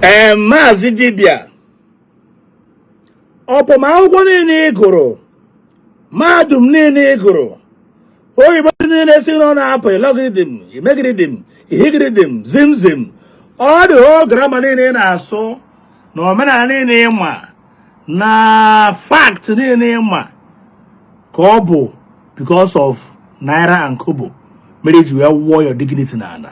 ee maazị dibịa ọ bụ ma akwụkwọ niile ị gụrụ mahadum niile ị gụrụ oyibo niile si n'ọnụ apụ ilogiridim imegiridim ihigiridim zimzim all the whole grammar niile ị na-asụ na omenala niile ị ma na fact niile ị ma ka ọ bụ because of naira and kobo mere i ji wee wụọ your dignity n'ala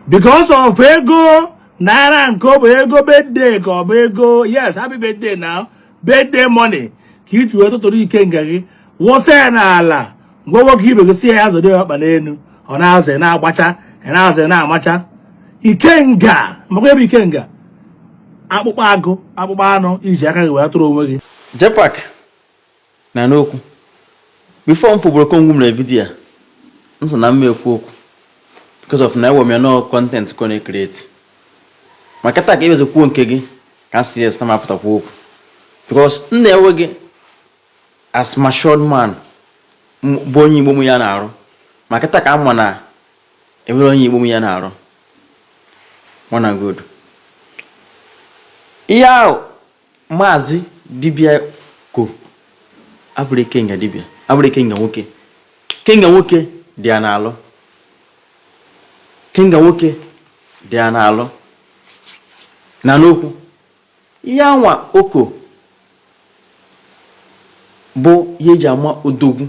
because of ego naira and kobo ego birthday ka ọ bụ ego yes happy birthday now birthday money ka i ji wee tụtụrụ ikenga gị wụsa ya n'ala gwa nwoke ibe gị sị ya ya zọdo ya ọkpa n'elu ọ na-azọ ya na-agbacha ya na-azọ ya na-amacha ikenga maka ebe ikenga akpụkpọ agụ akpụkpọ anụ i ji aka gị wee tụrụ onwe gị jpac na n'okwu before m fụbụrụ kongwu mere vidiyo a m sị na m ma ekwu okwu because of na ewe m ya na ọ content ka ọ na-ecreate maka taa ka ị bịazi kwuo nke gị ka m sị yes na m apụta kwuo okwu because m na-ewe gị as matured man bụ onye igbo m ya na-arụ ma kịta ka a ma na enwere onye igbo m ya na-arụ mana good ihe ahụ maazị dibịa ko abụrọ ikenga dibịa abụrọ ikenga nwoke ikenga nwoke dị ya n'alụ ikenga nwoke dị ya n'alụ na n'okwu Ihe anwa o ko bụ ihe eji ama odogwu,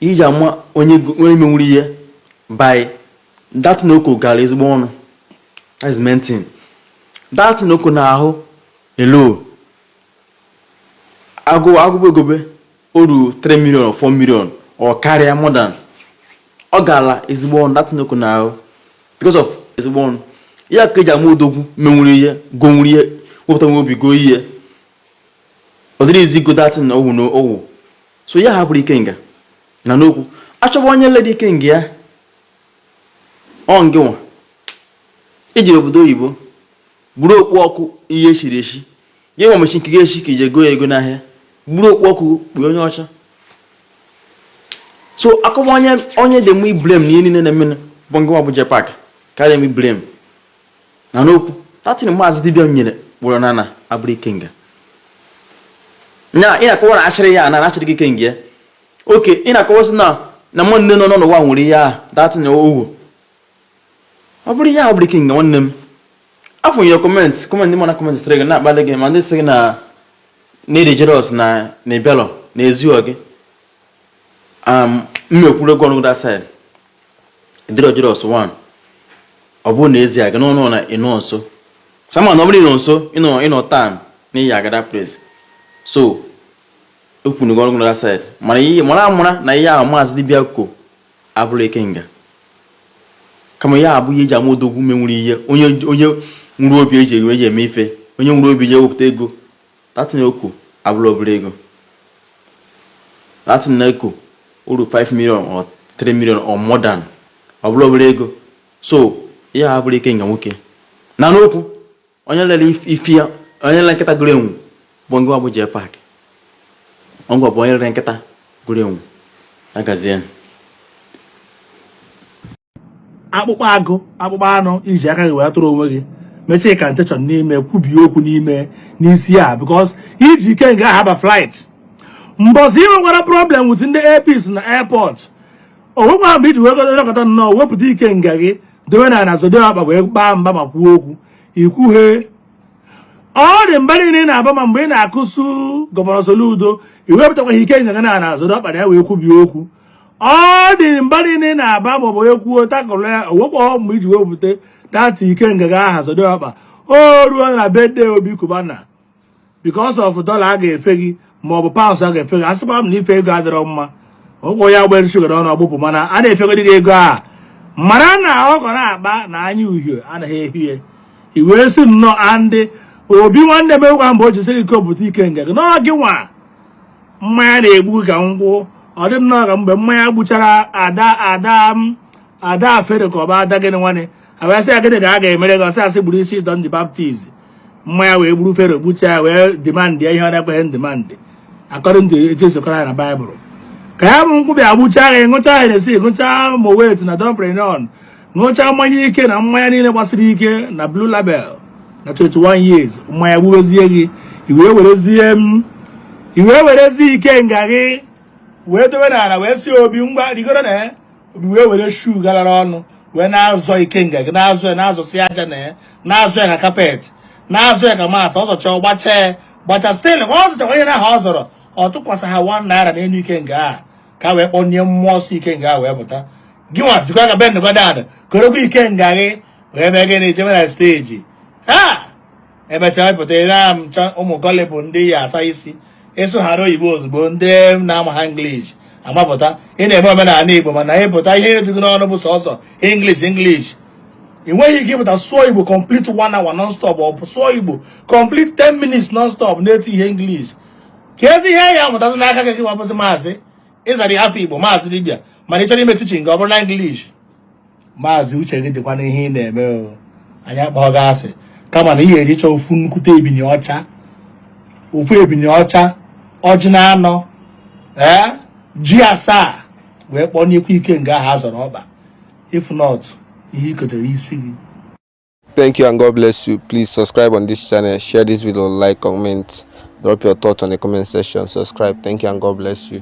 ihe eji ama onye menwuru ihe bụ that thing o ko gara ezigbo ọnụ. That is main thing. That thing o ko n'ahụ elo agụ agụba egobe o ruru 3 million or 4 million ọ karịa more than ọ gaala ezigbo ọnụ that thing o ko n'ahụ because of ezigbo ọnụ ya ka eji ama odogwu menwuru ihe gonwuru ihe wepụtanwu obi goo ihe ọ dịrọ easy igo that thing na owu na owu so ihe ahụ abụrọ ikenga na n'okwu a chọba onye ledi ikenga ya ọ ngịnwa i jere obodo oyibo buru okpu ọkụ ihe echiri echi gị nwa mechi nke gị echi ka i je goo ya ego n'ahịa buru okpu ọkụ kpuo onye ọcha so akọwa onye dị mma ịblame na ihe niile na-eme bụ ngịnwa bụ jpac karịa m ịblame na n'okwu that thing maazị dibịa nyere kpụrụ na na abụrọ ikenga ya ị na-akọwa na achịrị ya na achịrị gị ikenga oke ị na-akọwa sị na na nwanne nọ n'ụwa nwere ihe ahụ that thing owu ọ bụrụ ihe a bụrụ ikenga nwanne m afọ nye kọmentị kọmentị ndị mana kọmentị sịrị gị na-akpali gị ma ndị sị gị na na-adị jealous na na ị bịarọ na ezirọ gị m ekwurugo ọnụ gị that side dịrọ jealous 1 ọ bụrụ na e ziara gị ọnụ na ịnọ nso sama na ọ bụrụ ịnọ nso ịnọ ịnọ town na ị ya-aga that place so ekwurugo ọnụ gị that side mana ihe mara amara na ihe ahụ maazị dibịa ko abụrọ ikenga kama ya abụ ihe eji ama odogwu ume nwere ihe onye onye nwere obi eji enwe eji eme ife onye nwere obi je wepụta ego that thing ọ ko abụrọ obere ego that thing a ọ ko ruru 5 million or 3 million or more than ọ bụrọ obere ego so ihe a bụrụ ikenga nwoke na n'okwu onye lere ife ya onye lere nkịta goro enwe bụ ngị nwa bụ JPAC ọ ngị nwa bụ onye lere nkịta goro enwe agazie akpụkpọ agụ akpụkpọ anụ iji aka gị wee tụrụ onwe gị mechaa incantation n'ime kwubie okwu n'ime n'isi a because iji ikenga aha ba flight mbọsị ị nwekwara problem with ndị Air Peace na airport o nwekwara mgbe iji wee gọdọkọta nnọọ wepụta ikenga gị dowe n'ala zọdo ọkpa wee baa mba ma kwuo okwu ikwughe ụdị mba niile ị na-aba ma mgbe ị na-akụsu gọvanọ Soludo iwepụtakwaghị ikenga gị n'ala zọdo ọkpa na ya wee kwubie okwu ụdị mba niile ị na-aba maọbụ onye kwuo takụrụ ya o nwekwa mgbe iji wepụta that ikenga gị aha zọdo ọkpa o ruo na birthday Obi Cubana because of dollar a ga-efe gị ma ọ bụ pounds a ga-efe gị a sịkwa m na ife ego adịrọ mma ọ bụ onye a gbere shuga n'ọnụ ọ gbụpụ mana a na-efegodi gị ego a mara na ọkọ na-akpa na anya uhie anaghị ehie i wee sị nnọọ andị Obi nwanne m egwa mgbe o jisi gị kopụta ikenga gị na ọ gị nwa mmanya na-egbu ka nkwụ ọ dị nnọọ ka mgbe mmanya gbuchara ada ada ada Fero ka ọ bụ ada gịnị nwanne a bịa sị ya gịnị ka a ga-emere gị ọ sị a sị gburu isi John the Baptist mmanya wee gburu Fero gbuchaa ya wee demand ya ihe ọ na-ekweghị ndimandị according etu e si kọọ ya na baịbụl ka ya bụ nkwụ bịa gbuchaa ya ṅụchaa Hennessy ṅụchaa Moet na Dom Perignon ṅụchaa mmanya ike na mmanya niile gbasiri ike na blue label na 21 years mmanya gbubezie gị iwee werezie m iwee werezie ikenga gị wee dowe n'ala wee sị Obi ngwa rigoro na ya m wee were shoe galara ọnụ wee na-azọ ikenga gị na-azọ ya na-azọsi aja na ya na-azọ ya ka kapet na-azọ ya ka mata ọ zọcha gbacha ya gbacha stil ka ọ zọchakwa ihe ahụ ọ zọrọ ọ tụkwasị ha wan naira n'enu ikenga a ka wee kpọnye mmụọ ọsọ ikenga a wee pụta gị nwa sikwa ka bend down korokwa ikenga gị wee mee gịnị jebe na steji ha emechaa pụta ebe ụmụ gullible ndị ị ya-asa isi ị sụọ hara oyibo ozugbo ndị na-amaha English amapụta ị na-eme omenala Igbo mana ịpụta ihe ju gị n'ọnụ bụ sọsọ English English ị nweghị ike ịpụta sụọ Igbo complete one hour non stop ọ bụ sụọ Igbo complete 10 minutes non stop na-etihe English kezi ihe a ya-amụtazi n'aka gị wapụsị maazị ị zara afa Igbo maazị dibịa mana ị chọrọ ime teaching gị ọ bụrụ na English maazị uche gị dịkwa n'ihe ị na-eme o anyị akpọghị gị asị kama na ị ya-ejicha ofu nnukwute ebini ọcha ofu ebini ọcha ọjị na anọ ee ji asaa wee kpọọ n'ikwu ikenga ahụ a zọrọ ọkpa if not ihe i kotere isi gị Thank you and God bless you. Please subscribe on this channel, share this video, like, comment, drop your thoughts on the comment section, subscribe. Thank you and God bless you.